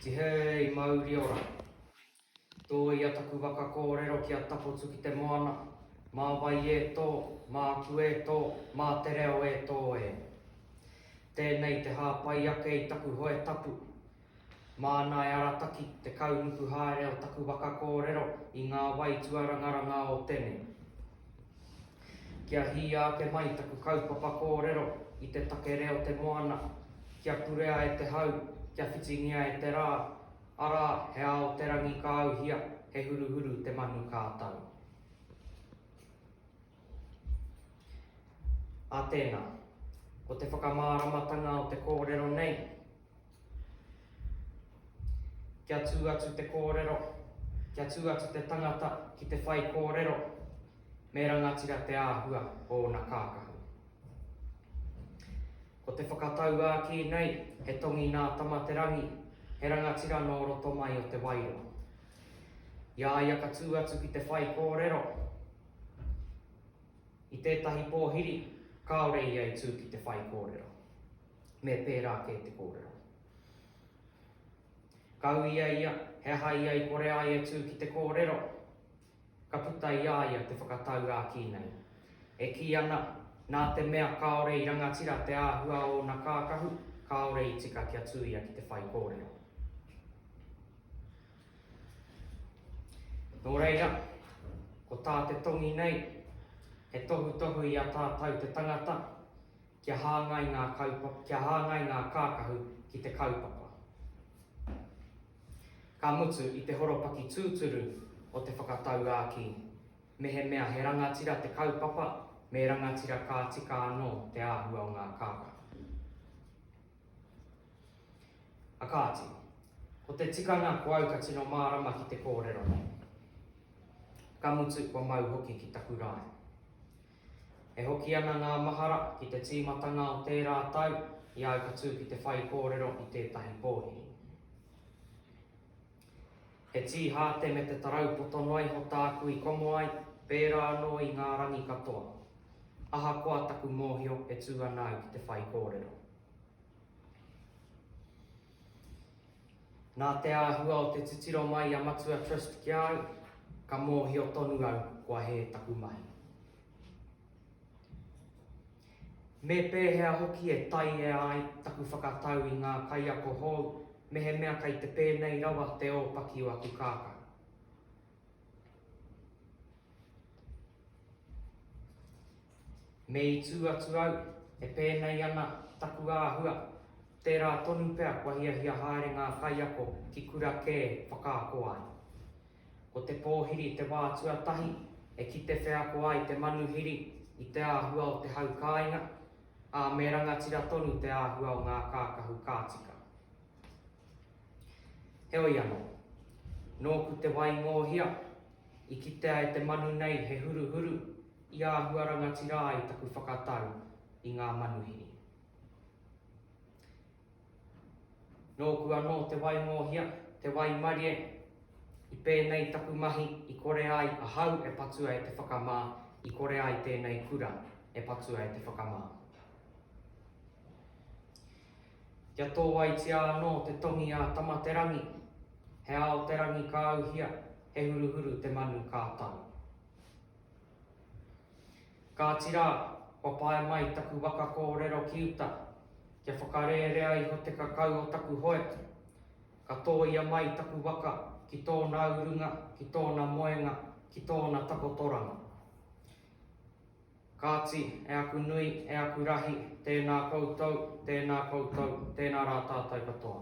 Tihei mauri ora. Tōia taku waka kōrero ki a tapotu ki te moana, mā wai e tō, mā aku e tō, mā te reo e tō e. Tēnei te hāpai ake i taku hoe tapu, Māna e arataki te kaunuku haere o taku waka kōrero i ngā wai tuarangaranga o tenei. Kia hīia ake mai taku kaupapa kōrero i te take reo te moana, kia purea e te hau, kia whitingia e te rā, arā, he ao te rangi ka auhia, he huruhuru te manu ka tau. Ā tēnā, ko te whakamāramatanga o te kōrero nei, kia tū atu te kōrero, kia tū atu te tangata ki te whaikōrero, me rangatira te āhua o ōna kākahu. Ko te whakatauākī nei, he tongi nā Tamaterangi, he rangatira nō roto mai o Te Wairoa. I a ia ka tū atu ki te whaikōrero, I tētahi pōhiri, kāore ia i tū ki te whaikōrero, me pērā kē te kōrero. Ka uia ia he aha ia i kore ai e tū ki te kōrero, ka puta i a ia te whakatau āki nei. E kī ana, nā te mea kāore i rangatira te āhua o ōna kākahu, kāore i tika kia tū ia ki te whaikōrero. Nō reira, ko tā te tongi nei, he tohutohu i a tātou te tangata kia hāngai ngā kaupapa, kia hāngai ngā kākahu ki te kaupapa. Ka mutu i te horopaki tūturu o te whakatauākī, mehemea he rangatira te kaupapa, me rangatira ka tika anō te āhua o ngā kākahu. A kāti, ko te tikanga ko au ka tino mārama ki te kōrero nei. Ka mutu kua mau hoki ki taku rae. E hoki ana ngā mahara ki te tīmatanga o tērā tau i au ka tū ki te whaikōrero i tētahi pōhiri. He tī hāte me te tarau poto noa iho tāku i komo ai, pērā anō i ngā rangi katoa. Ahakoa taku mōhio e tū ana au ki te whaikōrero. Nā te āhua o te titiro mai i a Matua Trust ki a au, ka mōhio tonu au kua hē taku mahi. Me pēhea hoki e taiea ai taku whakatau i ngā kaiako hou mehemea kei te pēnei rawa te ōpaki o aku kākā. Me i tū atu au, e pēnei ana taku āhua, tērā tonu pea kua hiahia haere ngā kaiako ki kura kē whakaako ai. Ko te pōhiri te wā tuatahi e kite wheako ai te manuhiri i te āhua o te hau kāinga, ā, me rangatira tonu te āhua o ngā kākahu ka tika. Heoi anō, nōku te waingōhia, i kitea e te manu nei he huruhuru i āhua rangatira ai taku whakatau i ngā manuhiri. Nōku anō te waingōhia, te waimarie. I pēnei taku mahi i kore ai ahau e patua e te whakamā, i kore ai tēnei kura e patua e te whakamā. Kia tōaitia anō te tongi a Tamaterangi, he ao te rangi ka auhia, he huruhuru te manu ka tau. Kāti rā, kua pae mai taku waka kōrero ki uta, kia whakarērea iho te kakau o taku hoeta. Ka tōia mai taku waka ki tōna urunga, ki tōna moenga, ki tōna takotoranga. Kāti, e aku nui, e aku rahi, tēnā koutou, tēnā koutou, tēnā rā tātou katoa.